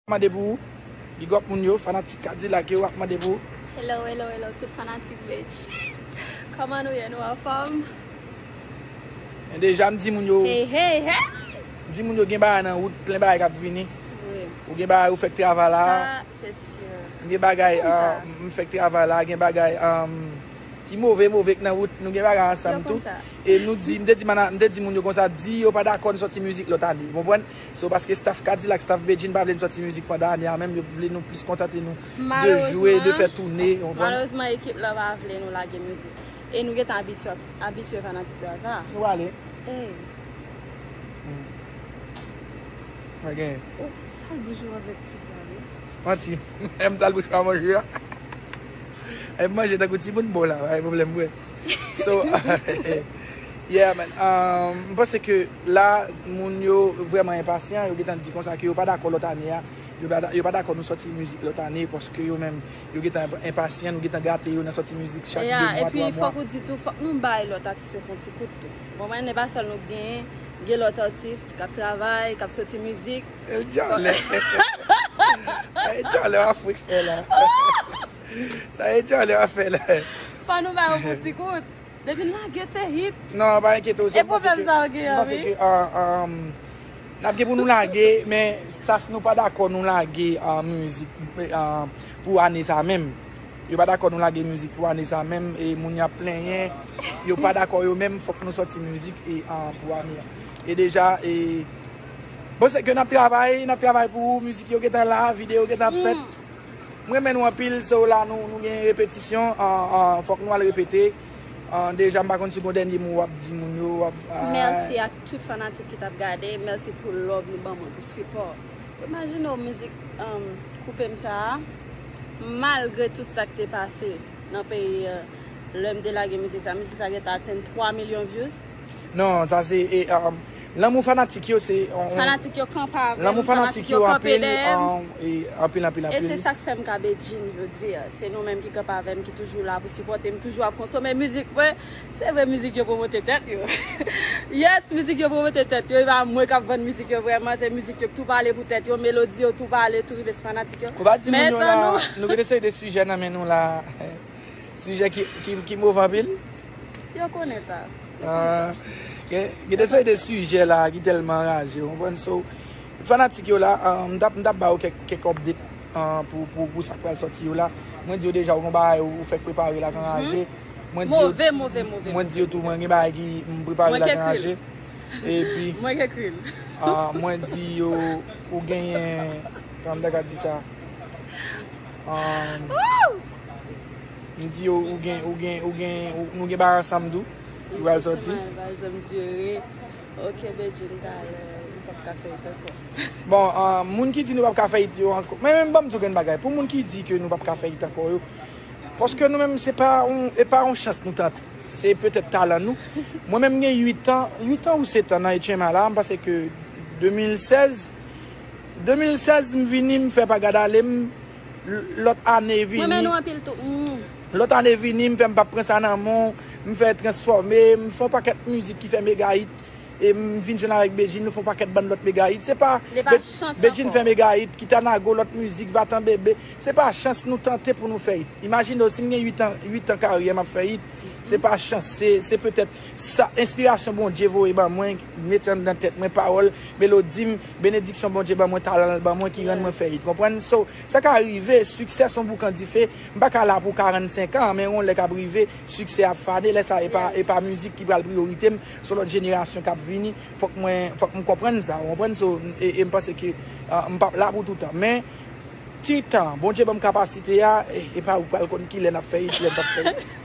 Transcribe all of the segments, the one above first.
Mande pou ou. Big up moun yo, fanatik kadilak yo ap mande pou ou. Hello hello hello tout fanatik Beatz Koman nou ye nou anfom? Men deja m di moun yo. Hey hey hey! M di moun yo gen bagay nan wout plen bagay kap vini. Wi. Ou gen bagay ou fèk travay la. Sa se sur. M gen bagay m fèk travay la, gen bagay ki move move k nan wout, nou gen bagay ansanm tou. Yo konn sa. E nou di, m te di moun yo konsa, di yo pa dakò n sòti mizik lòt ane. Ou konprann? So paske staff kadilak, staff bedjine pa vle n sòti mizik pandan ane a menm yo vle nou plis kontante nou de jwe, de fè toune ou konprann. Malerezman ekip la pa vle nou lage mizik e nou gentan abitye fanatik yo a sa. Nou pale. Ey. Sa genyen. Ou sal bouch ou avèk tip la wi. Manti. M sal bouch m a manje a. Em manje tankou timoun bon la pa gen pwoblèm vre. So Yeah man M panse ke la moun yo vreman enpasyan yo gentan di konsa ke yo pa dakò lòt ane a yo pa dakò nou sòti mizik lòt ane paske yo menm yo gentan enpasyan nou gentan gate yo nan sòti mizik chak 2 mwa 3 mwa. Epi fòk ou di tou fòk nou bay lòt atis yo fon ti kout tou ou konprann e pa sèl nou k genyen gen lòt atis kap travay kap sòti mizik. Djalè wap frekan la. Sa e Charly ap fè la. Fò nou ba yo pou ti kout. Depi n lage se hit. Non pa enkyete w se m panse ke. E pwoblèm sa w gen yo wi. M panse ke n ap gen pou nou lage men staff nou pa dakò nou lage mizik pou ane sa menm. Yo pa dakò nou lage mizik pou ane sa menm e moun yo ap plenyen. Yo pa dakò yo menm fòk nou sòti mizik pou ane a. E deja e bon se ke n ap travay n ap travay pou mizik yo gentan la, videyo gentan ap fèt. M renmen nou anpil so la nou nou gen repetisyon fok nou al repete deja m pa konn si gon dènye mo wap di moun yo wap bay. Merci ak tout fanatik ki tap gade merci pou love nou ban mwen pou support imajine w mizik koupe m sa a malgre tout sak te pase nan peyi lèm te lage mizik sa mizik sa gentan atenn 3 million views. Non sa se Lanmou fanatik yo se yon. Fanatik yo kanpe avèm. Lanmou fanatik yo kanpe dèyèm. Anpil anpil anpil. E se sak fèm ka Bedjine jodi a. Se nou menm ki kanpe avèm ki toujou la pou sipòtem toujou ap konsome mizik mwen. Se vre mizik yo pwomote tèt yo. Yes mizik yo pwomote tèt yo. E pa mwen kap vann mizik yo vrèman. Se mizik yo ki tou pale pou tèt yo. Melodi yo tou pale tou rive sou fanatik yo. Ou pa di moun yo la nou gen de seri de sijè nan men nou la. Sijè ki move anpil? Yo konnen sa. Gen de seri de sijè la ki telman raje. Ou konprann so. Fanatik yo la, m tap ba ou kek update pou sa k pral soti yo la. Mwen di yo deja ou gen bagay ou fek prepare la k anraje. Move, move, move. Mwen di yo tou mwen gen bagay ki m prepare la k anraje. Mwen k ekri l. Mwen di yo ou genyen, kòman m ta ka di sa? M di yo ou gen, ou gen, ou gen, nou gen bagay ansanm tou. Li pral soti. Ou gen bagay janm di yo ye. Ok Bedjine talè nou pap ka fè it ankò. Bon, moun ki di nou pap ka fè it yo ankò. Men men banm di w gen bagay. Pou moun ki di ke nou pap ka fè it ankò yo. Paske nou menm se pa yon, e pa yon chans nou tante. Se petèt talan nou. Mwen menm m gen 8 an, 8 an ou 7 an nan HMA la, m panse ke 2016, 2016 m vini m fè pa gad ale m. Lot ane vini. Mwen renmen nou anpil tou. Lot ane vini m fè m pap pran sa nan men w, m fè transfòme, m fè yon pakèt mizik ki fè mega hit e m vin jwenn avèk Bedjine nou fè yon pakèt bann lòt mega hit se pa Bedjine fè mega hit, Kita Nago lòt mizik, Vatan Bebe, se pa chans nou tante pou nou fè hit. Imajine w si m gen 8 an karyè m ap fè hit, se pa chans se petèt. Sa enspirasyon Bondye voye ban mwen mete anndan tèt mwen pawòl melodi m benediksyon Bondye ban mwen talan l ban mwen ki rann mwen fè it konprann so sa ka rive siksè son boukan dife m pa ka la pou 45 an men yon lè k ap rive siksè ap fane lè sa epa epa mizik ki pral priyorite m son lòt jenerasyon k ap vini fòk mwen fòk m konprann sa ou konprann so e m panse ke m p ap la pou toutan men ti tan Bondye ban m kapasite a epa ou pral konn kilè n ap fè it kilè n p ap fè it.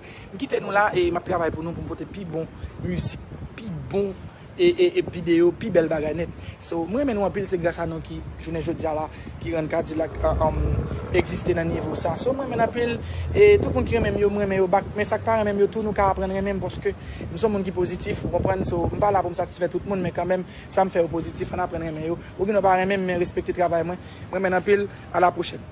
M kite nou la e map travay pou nou pou m pote pi bon mizik, pi bon video, pi bèl bagay nèt. So m renmen nou anpil se gras a nou ki jounen jodia la ki rann Kadilak egziste nan nivo sa. So m renmen n anpil e tout moun ki renmen m yo m renmen yo bak men sak pa renmen m yo tou nou ka aprann renmen m paske m son moun ki pozitif ou konprann so m pa la pou m satisfè tout moun men kanmenm sa m fè yo pozitif ann aprann renmen yo ou gen dwa pa renmen m men respekte travay mwen m renmen n anpil a la pwochèn.